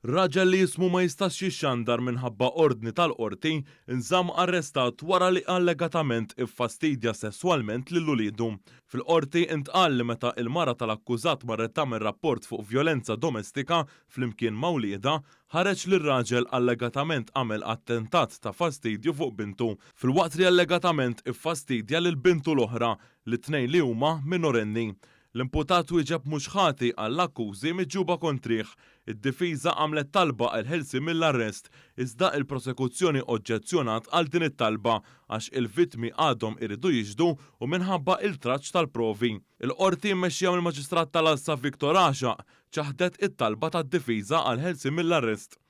Raġel li ismu ma jistax jixxandar minħabba ordni tal-Qorti, nżamm arrestat wara li allegatament iffastidja sesswalment lil uliedu. Fil-Qorti ntqal li meta l-mara tal-akkużat marret tagħmel rapport fuq vjolenza domestika flimkien ma' wliedha, ħareġ li r-raġel allegatament għamel attentat ta' fastidju fuq bintu, filwaqt li allegatament iffastidja lil bintu l-oħra, li t-tnejn li huma minorenni. L-imputat wieġeb mhux ħati għall-akkużi miġjuba kontrih. Id-difiża għamlet talba għal ħelsien mill-arrest, iżda il-prosekuzzjoni oġġezzjonat għal din it-talba għax il-vittmi għadhom iridu jixhdu u minħabba iltraġġ tal-provi. Il-Qorti mmexxija mill-Maġistrat tal-Għassa Victor Għaxaq ċaħdet it-talba tad-difiża għal ħelsien mill-arrest.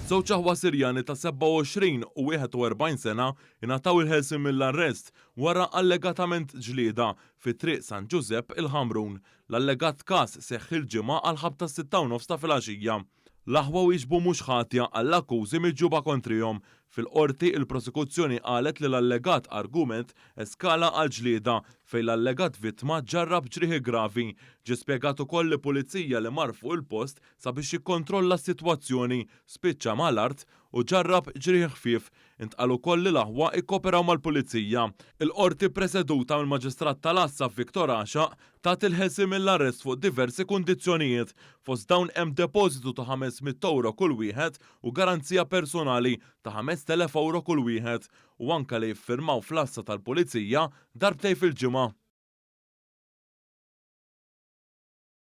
Żewġ aħwa Sirjani ta' 27 u 41 sena ingħataw il-ħelsien mill-arrest wara allegatament ġlieda fi Triq San Ġużepp il-Ħamrun. L-allegat każ seħħ il-Ġimgħa għall-ħabta tas-sitta u nofs ta' filgħaxija. L-aħwa wieġbu mhux ħatja għall-akkużi miġjuba kontrihom. Fil-Qorti, il-Prosekuzzjoni qalet li l-allegat argument eskala għal ġlieda, fejn l-allegat vittma ġarrab ġrieħi gravi. Ġie spjegat ukoll li pulizija li mar fuq il-post sabiex jikkontrolla s-sitwazzjoni spiċċa mal-art u ġarrab ġrieħi ħfief. Intqal ukoll li l-aħwa ikkoperaw mal-Pulizija. Il-Qorti preseduta mill-Maġistrat tal-Għassa Victor Għaxaq tat il-ħelsien mill-arrest fuq diversi kundizzjonijiet. Fost dawn hemm depożitu ta' ħames mitt ewro kull wieħed u garanzija personali ta' ħamest elef ewro kull wieħed u anke li jiffirmaw fl-Għassa tal-Pulizija darbtejn fil-ġimgħa.